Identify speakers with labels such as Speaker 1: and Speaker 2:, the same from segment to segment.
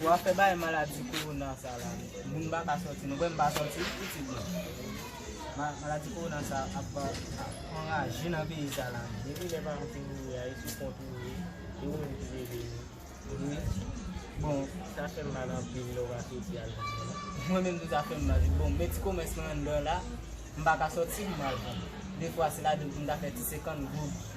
Speaker 1: Ou afè bay maladi korona sa la moun pa ka soti nou wèm pa soti itit mwen maladi korona sa ap anraje nan peyi sa la depi lè paran fin mouri a e sou kont ou ye e ou menm ki leve nou wi bon sa fèm mal anpil lè ou pa soti al vann nan mwen menm tou sa fèm mal wi bon men ti komès mwen anndan la m pa ka soti pou m al vann defwa se la dan m ta fè ti 50 goud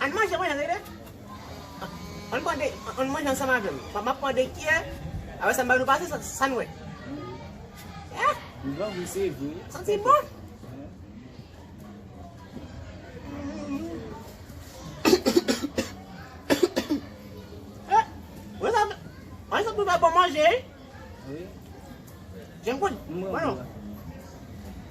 Speaker 2: Ann manje mwen ann rele. Ann mande ann manje ansanm avè m. Map mande kyè apre sa m ba nou pase sa n wè. Li
Speaker 1: bon
Speaker 2: wi se vre. Santi bon. Mwen sa pwede bon manje. Wi. Jen m konnen. Mwen.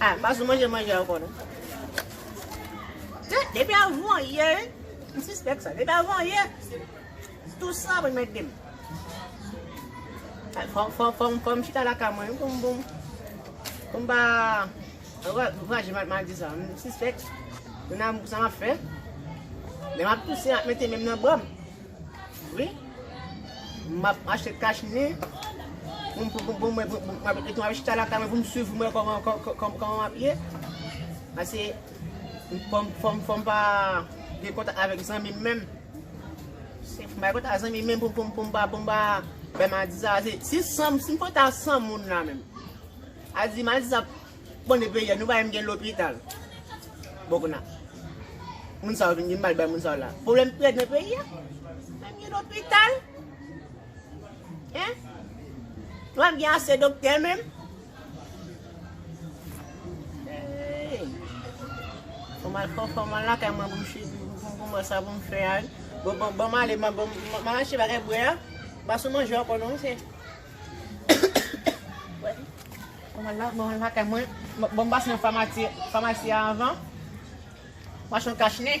Speaker 2: Ah, pas ou manje manje ankò non. Te, depi avan yè, m sispèk sa. Depi avan yè, tout sa mwen mèt dem. Fòm, fòm, fòm, fòm chita la ka mwen, koum boum. Koum ba, vwaje mat mal di sa. M sispèk, m nan sa m ap fè. Men m ap tousen ap mèt men m nan bòm. Vre map achte kach nen poum poum mwen etou map chita lakay mwen poum swiv mwen kòman map ye pase fòm pa gen kontak avèk zanmim menm fòm bay kontak zanmim menm poum poum pa poum pa bay maladi sa sim kontak san moun la menm maladi sa. Bon e peyè nou pa menm gen lopital bon kounya moun sa yo vin gen mal bay moun sa yo la pwoblèm pi rèd nan peyi a nou pa menm gen lopital hein nou pa menm gen ase doktè menm eeyy fòm al fò fòm al lakay mwen pou m chit pou m wè sa pou m fè a wi banm ale map achte bagay bwè a m pa sou manje ankò non se. Mwen la mwen lakay mwen bon m pase nan famasi a avan machon kach nen.